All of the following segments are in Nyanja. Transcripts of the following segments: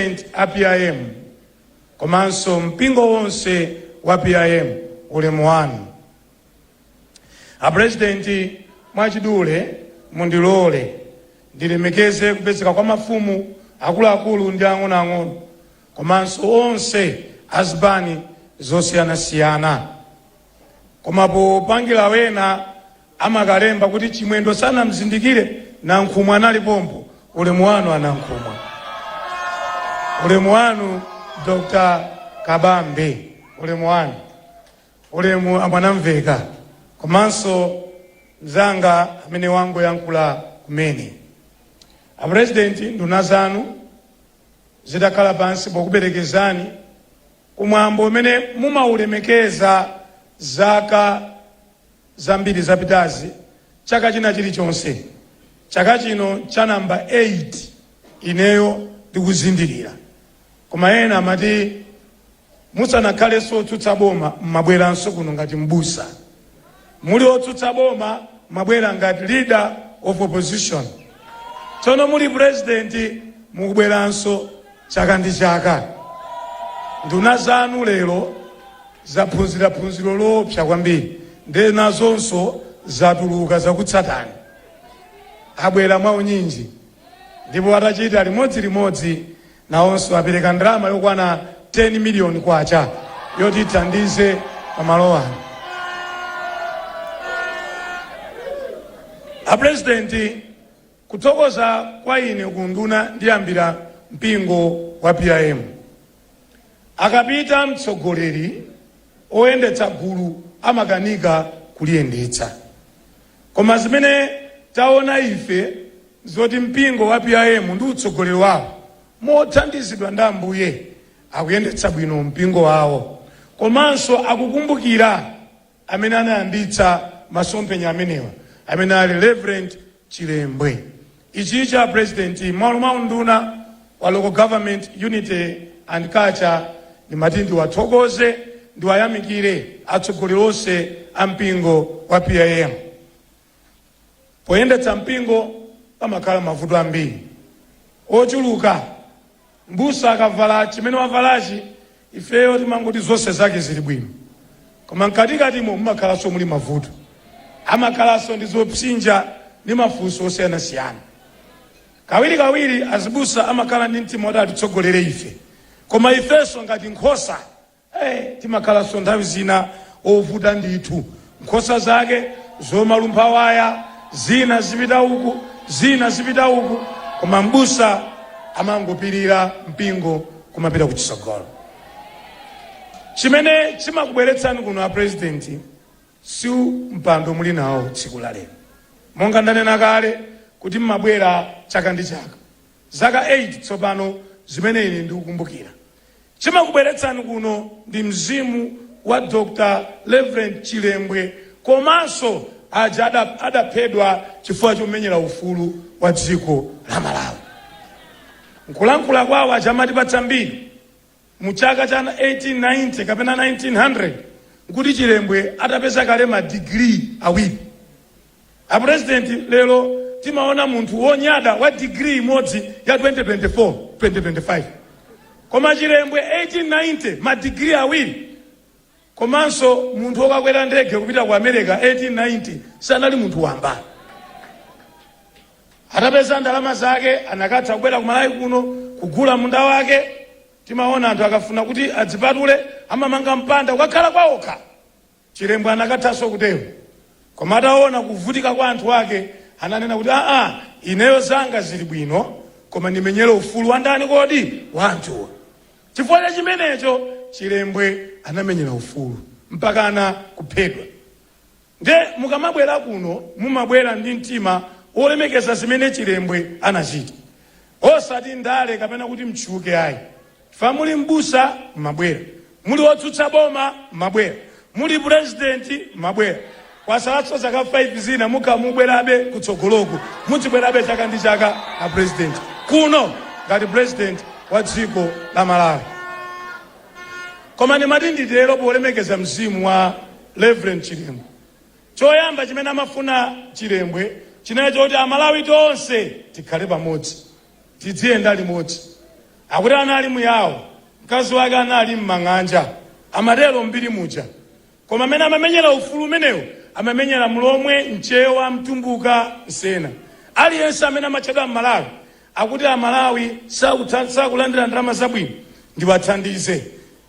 president a PIM komanso mpingo wonse wa PIM ulemu wanu. A president mwachidule mundilole ndilemekeze kupezeka kwa mafumu akuluakulu ndi ang'onoang'ono komanso onse azipani zosiyanasiyana koma popangira wina angakalembe kuti chimwendo sanamzindikire nankhumwa anali pompo ulemu wanu a Nankhumwa ulemu wanu dr kabambe ulemu wanu ulemu a Mwanamveka komanso mzanga amene wangoyankhula kumene a presidenti nduna zanu zitakhala pansi pokuperekezani kumwambo umene mumaulemekeza zaka zambiri zapitazi, chaka china chilichonse, chaka chino cha number 8 ineyo ndikuzindikira. Koma ena amati musanakhalenso otsutsa boma mmabweranso kuno ngati m'busa. Muli otsutsa boma mmabwera ngati leader of opposition. Tsono muli president mukubweranso Chaka ndi chaka, nduna zanu lero zaphunzira phunziro loopsa kwambiri ndiye nazonso zatuluka zakutsatani. Abwera mwaunyinji ndipo atachita limodzilimodzi nawonso apereka ndalama yokwana 10 miliyoni kwacha yoti ithandize pamalo ano. Apulezidenti, Kuthokoza kwa ine kuunduna ndiyambira mpingo wa PIM. Akapita mtsogoleri, oyendetsa gulu amakanika kuliyendetsa. Koma zimene taona ife nzoti mpingo wa PIM ndi utsogoleri wawo mothandizidwa ndi Ambuye akuyendetsa bwino mpingo wawo komanso akukumbukira amene anayambitsa masomphenya amenewa amene ali Reverend chilembwe ichicho a president mmalo mwa unduna wa local government unity and culture ndimati ndiwathokoze ndiwayamikire atsogoleri onse a mpingo wa PIM poyendetsa mpingo pamakhala mavuto ambiri ochuluka M'busa akavala chimene wavalachi ifeyo timangoti zonse zake zili bwino koma mkatikatimo mumakhalanso muli mavuto. Amakhalanso ndi zopsinja ndi mafunso osiyanasiyana. Kawirikawiri azibusa amakhala ndi mtima woti atitsogolere ife koma ifenso ngati nkhosa. Ee, timakhalanso nthawi zina ovuta ndithu. Nkhosa zake zomalumpha waya, zina zipita uku, zina zipita uku, koma m'busa amangopirira, mpingo kumapita kutsogolo. Chimene chimakubweretsani kuno a Purezidenti si u mpando muli nawo tsiku la lero. Monga ndanena kale kuti m'mabwera chaka ndi chaka. Zaka 8 tsopano zimene ine ndikukumbukira. Chimakubweretsani kuno ndi mzimu wa Dr Reverend Chilembwe komanso aja adaphedwa chifukwa chomenyera ufulu wa dziko la Malawi. Nkulankhula kwawo aja amatipatsa mbiri mu chaka cha 1890 kapena 1900 nkuti Chilembwe atapeza kale ma degree awiri. A president lero timaona munthu wonyada wa degree imodzi ya 2024 2025 koma chilembwe 1890 ma degree awiri komanso munthu wokakwera ndege kupita ku america 1890 sanali munthu wamba atapeza ndalama zake anakatha kubwera ku malawi kuno kugula munda wake timaona anthu akafuna kuti adzipatule amamanga mpanda kukakhala kwaokha Chilembwe anakathanso kutero koma ataona kuvutika kwa anthu ake ananena kuti aa ineyo zanga zili bwino koma ndimenyere ufulu wa ndani kodi? Wa anthuwa. Chifukwa cha chimenecho Chilembwe anamenyera ufulu mpakana kuphedwa. Nde mukamabwera kuno mumabwera ndi mtima wolemekeza zimene Chilembwe anachita osati ndale kapena kuti mtchuke ayi. Fukwa muli m'busa mmabwera, muli otsutsa boma mmabwera, muli president mmabwera. Kwatsalatso zaka 5 zina mukamabwerabe kutsogoloku mudzibwerabe chaka ndi chaka a president kuno ngati president wa dziko la Malawi. Koma ndimati nditero polemekeza mzimu wa Reverend Chilembwe. Choyamba chimene amafuna Chilembwe chinali choti Amalawi tonse tikhale pamodzi. tidziyenda limodzi. Akuti anali muyawo, mkazi wake anali m'mang'anja, amatero m'mbiri muja. Koma amene amamenyera ufulu umenewo amamenyera Mlomwe, Mchewa, Mtumbuka, Msena. Aliyense amene amatchedwa Mmalawi akuti Amalawi sakulandira ndalama zabwino, ndiwathandize.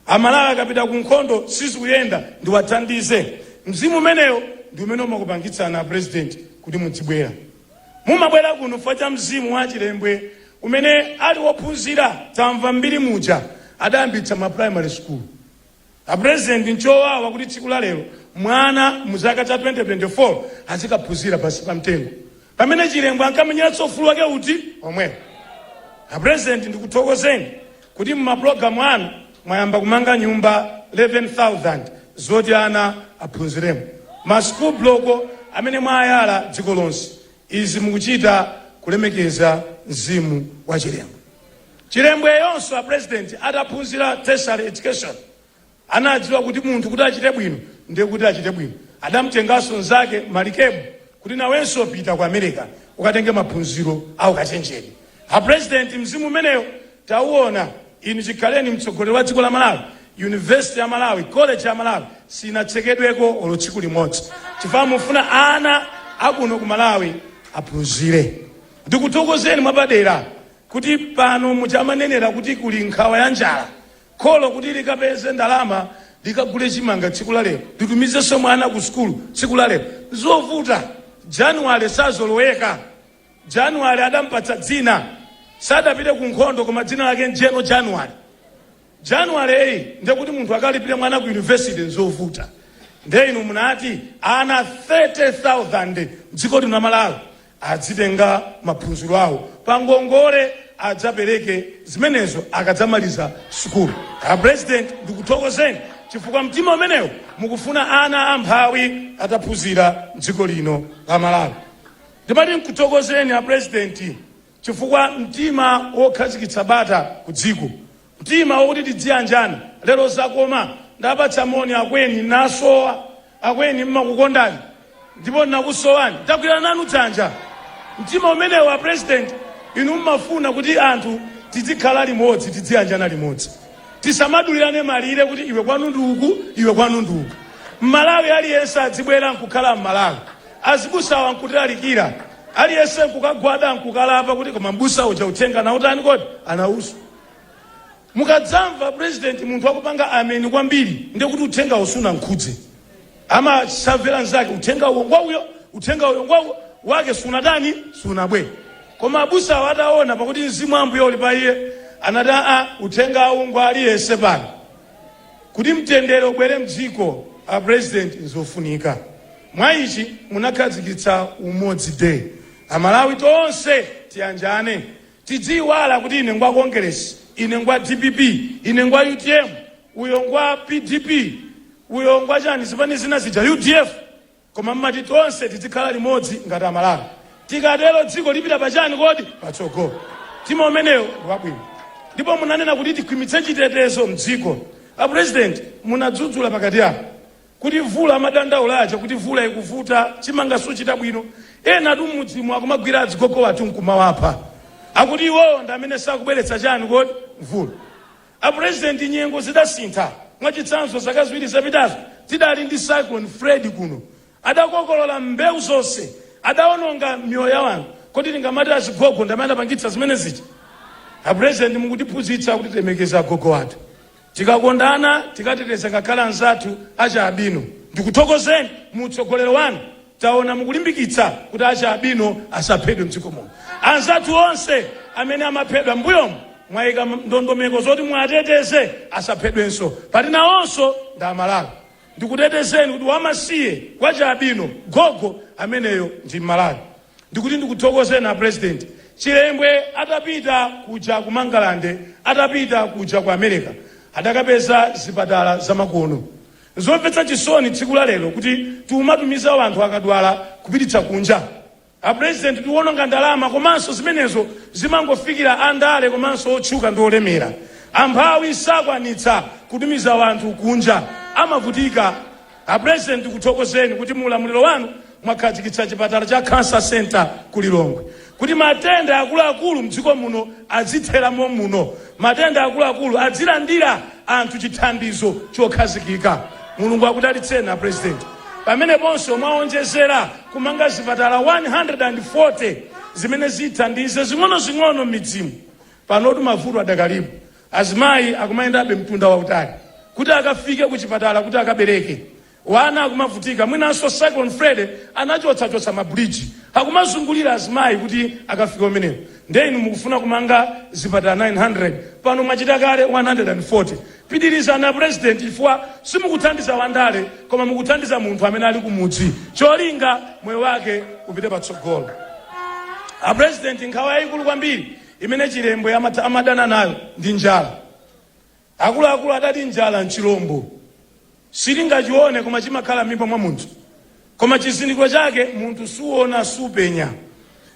Amalawi akapita ku nkhondo sizikuyenda, ndiwathandize. Mzimu umenewo ndi umene umakupangitsani a President kuti mudzibwera. Mumabwera kuno fukwa cha mzimu wa Chilembwe umene ali wophunzira tamva mbiri muja adayambitsa ma primary school. A president nchowawa kuti tsiku la lero mwana mu chaka cha 2024 azikaphunzira pansi pa mtengo pamene chilembwe ankamenyeranso ufulu wake uti omwewu. A president ndikuthokozeni kuti mu ma program anu mwayamba kumanga nyumba 11000 zoti ana aphunziremo, ma school block amene mwayala dziko lonse. Izi mukuchita kulemekeza mzimu wa Chilembwe. Chilembwe yonso a President adaphunzira Tertiary Education, Anadziwa kuti munthu kuti achite bwino ndi kuti achite bwino. Adamtenganso mnzake Malikebu kuti nawenso pita ku America ukatenge maphunziro a ukachenjede. A President mzimu umeneyo tauona. Inu chikhaleni mtsogoleri wa dziko la Malawi, University ya Malawi, College ya Malawi sinatsekedweko olo tsiku limodzi chifukwa mufuna ana akuno ku Malawi aphunzire. Ndikuthokozeni mwapadera kuti pano muja amanenera kuti kuli nkhawa ya njala Kholo kuti likapeze ndalama likagule chimanga tsiku la lero, litumizenso mwana ku sukulu tsiku la lero, nzovuta. January sazoloweka. January adampatsa dzina, sadapite ku nkhondo koma dzina lake General January. January ndiye kuti munthu akalipire mwana ku university nzovuta. Ndiye inu munati ana 30,000 m'dziko lino la Malawi Adzitenga maphunziro awo pangongole adzapereke zimenezo akadzamaliza sukulu. A president ndikuthokozeni chifukwa mtima umenewo mukufuna ana amphawi ataphunzira mdziko lino la Malawi. Ndimati nkuthokozeni a president chifukwa mtima wokhazikitsa bata kudziko Mtima wakuti tidziyanjana lero zakoma ndapatsa moni akweni mwasowa akweni mmakukondani ndipo nnakusowani ndagwirana nanu dzanja mtima umenewo a president inu mmafuna kuti anthu tidzikhala limodzi tidziyanjana limodzi tisamadulirane malire kuti iwe kwanu ndi uku iwe kwanu ndi uku mmalawi aliyense adzibwera nkukhala mmalawi azibusawa nkutilalikira aliyense nkukagwada nkukalapa kuti koma mbusa uja uthenga nautani kodi anauza Mukadzamva president munthu akupanga amen kwambiri ndiye kuti uthengawo sunamkhudze. Amasavera mnzake uthenga uwo ngwauyo, uthenga uyo ngwauyo wake sunatani sunabwe. Koma abusawo ataona pakuti mzimu wa Ambuye uli pa iye anati aa uthengawu ngwa aliyense pano. Kuti mtendere ubwere mdziko a president nzofunika. Mwa ichi munakhazikitsa umodzi day. Amalawi tonse tiyanjane. Tidziiwala kuti ine ngwa Kongeresi, ine ngwa dpp, ine ngwa utm, uyo ngwa pdp, uyo ngwa chani, zipani zina zija, udf, koma mmati tonse tidzikhala limodzi ngati a Malawi. Tikatero dziko lipita pa chani kodi? Patsogolo. Mtima umeneyo ndi wabwino. Ndipo munanena kuti tikhwimitse chitetezo mdziko. A President, munadzudzula pakati apa. Kuti mvula amadandaula aja kuti mvula ikuvuta, chimanga suchita bwino. Enatu m'mudzimu akumagwira azigogo athu nkumawapha. Akuti iwowo ndi amene sakubweretsa chani kodi? Mvula. A President nyengo zidasintha. Mwachitsanzo zaka ziwiri zapitazo tidali ndi Cyclone Freddy kuno. Adakokolola mbewu zonse. Adaononga miyoyo ya anthu. Kodi tingamati azigogo ndi amene adapangitsa zimene zija? A President mukutiphunzitsa kuti tilemekeze agogo athu. Tikakondane, tikateteze ngakhale anzathu achi albino. Ndikuthokozeni mu utsogoleri wanu taona mukulimbikitsa kuti achi albino asaphedwe mdziko muno. Anzathu onse amene amaphedwa m'mbuyomu mwaika ndondomeko zoti muwateteze asaphedwenso poti nawonso ndi Amalawi. Ndikutetezeni kuti wamasiye wachi albino, gogo, ameneyo ndi m'Malawi. Ndikuti ndikuthokozeni a president chilembwe atapita kuja ku Mangalande atapita kuja ku America adakapeza zipatala zamakono zomvetsa chisoni tsiku la lero kuti tikumatumiza anthu akadwala kupititsa kunja a president tiwononga ndalama komanso zimenezo zimangofikira andale komanso otchuka ndi olemera amphawi sakwanitsa kutumiza anthu kunja amavutika A president tikuthokozeni kuti mu ulamuliro wanu mwakhazikitsa chipatala cha Cancer Centre ku Lilongwe kuti matenda akuluakulu mdziko muno adzithera mom'muno, matenda akuluakulu adzilandira anthu chithandizo chokhazikika. Mulungu akudalitseni a president. Pameneponso mwaonjezera kumanga zipatala 140 zimene zithandize zing'onozing'ono mmidzimu. Panotu mavuto adakalipo. Azimayi akumayendabe mtunda wautali kuti akafike ku chipatala kuti akabereke. Wana akumavutika mwinanso Cyclone Freddy anachotsachotsa ma bridge akumazungulira azimayi kuti akafike kumeneko nde inu mukufuna kumanga zipatala 900 pano mwachita kale 140. Pitirizani a president chifukwa simukuthandiza wandale koma mukuthandiza munthu amene ali kumudzi cholinga moyo wake upite patsogolo. A president nkhawa yayikulu kwambiri imene Chilembwe amadana nayo ndi njala. Akuluakulu adati njala n'chilombo. Sungachione koma chimakhala m'mimba mwa munthu. Koma chizindikiro chake munthu suona, supenya.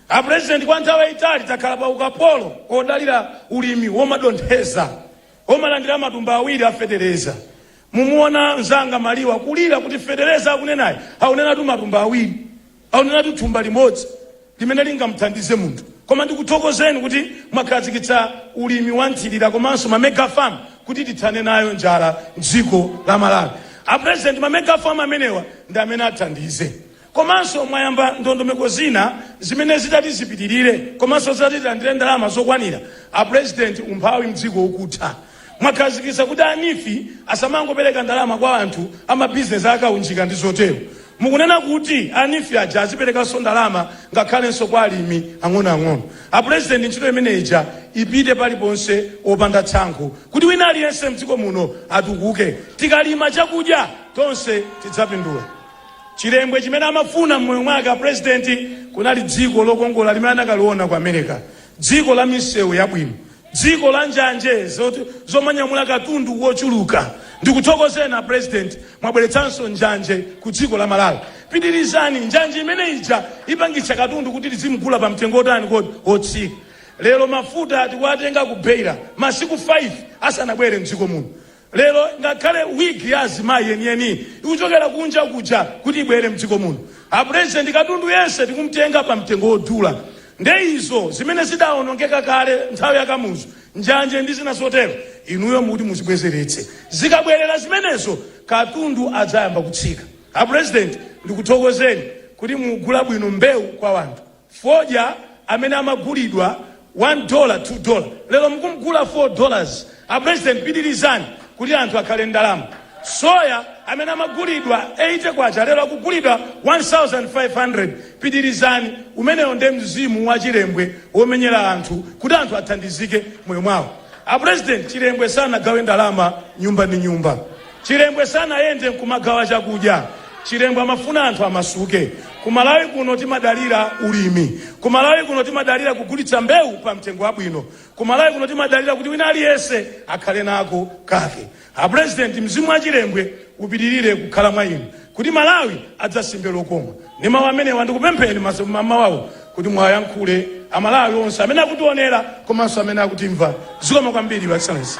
A President kwa nthawi yaitali takhala pa ukapolo odalira ulimi womadontheza, womalandira matumba awiri a fetereza. Mumuona mzanga Maliwa kulira kuti fetereza akunenayo aunenatu matumba awiri. Aunenatu thumba limodzi limene lingamuthandize munthu. Koma ndikuthokozeni kuti mwakhazikitsa ulimi wa nthirira komanso ma mega farm kuti tithane nayo njala m'dziko la Malawi. A President ma mega farm amenewa ndi amene athandize. Komanso mwayamba ndondomeko zina zimene zitati zipitirire komanso zitati tilandire ndalama zokwanira, a President umphawi m'dziko ukutha. Mwakhazikitsa kuti a NEEF asamangopereka ndalama kwa anthu a mabizinesi a kaunjika ndi zotero. Mukunena kuti a NEEF aja aziperekanso ndalama ngakhalenso kwa alimi ang'onoang'ono. A Pulezidenti ntchito imene ija ipite paliponse opanda tsankho kuti wina aliyense mdziko muno atukuke. Tikalima chakudya tonse tidzapindula. Chilembwe chimene amafuna m'moyo mwake a Pulezidenti kunali dziko lokongola limene anakaliona ku Amereka, dziko la misewu yabwino, Dziko la njanje zomanyamula katundu wochuluka. Ndikuthokozeni a president mwabweretsanso njanje ku dziko la Malawi. Pitirizani, njanje imene ija ipangitsa katundu kuti tizimugula pa mtengo wotani kodi? Wotsika. Lero mafuta tikuwatenga ku Beira masiku 5 asanabwere m'dziko muno. Lero ngakhale wig ya azimayi yeniyeni ikuchokera kunja kuja kuti ibwere mdziko muno. A president katundu yense tikumtenga pa mtengo wodula. Nde izo zimene zidaonongeka kale nthawi ya Kamuzu, njanje ndi zina zotero, inuyo muti muzibwezeretse. Zikabwerera zimenezo katundu adzayamba kutsika. A president ndikuthokozeni kuti mukugula bwino mbewu kwa wanthu. Fodya amene amagulidwa 1 dola 2 dola lero mukumgula 4 dollars. A president pitilizani kuti anthu akhale ndalama. Soya amene amagulidwa 80 kwacha lero akugulidwa 1500 pitilizani umenewo nde mzimu wa chilembwe womenyera anthu kuti anthu athandizike moyo mwawo. A president chilembwe sanagawe ndalama nyumba ndi nyumba. Chilembwe sanayende nkumagawa chakudya. Chilembwe amafuna anthu amasuke. Ku Malawi kuno timadalira ulimi. Ku Malawi kuno timadalira kugulitsa mbewu pa mtengo wabwino. Ku Malawi kuno timadalira kuti wina aliyense akhale nako kake. A President, mzimu wa Chilembwe upitirire kukhala mwa inu. kuti Malawi adzasimbe lokoma ndi mawu amenewa ndikupempheni m'mawawu kuti muwayankhule a Malawi onse amene akutionera komanso amene akutimva. Zikomo kwambiri Your Excellency.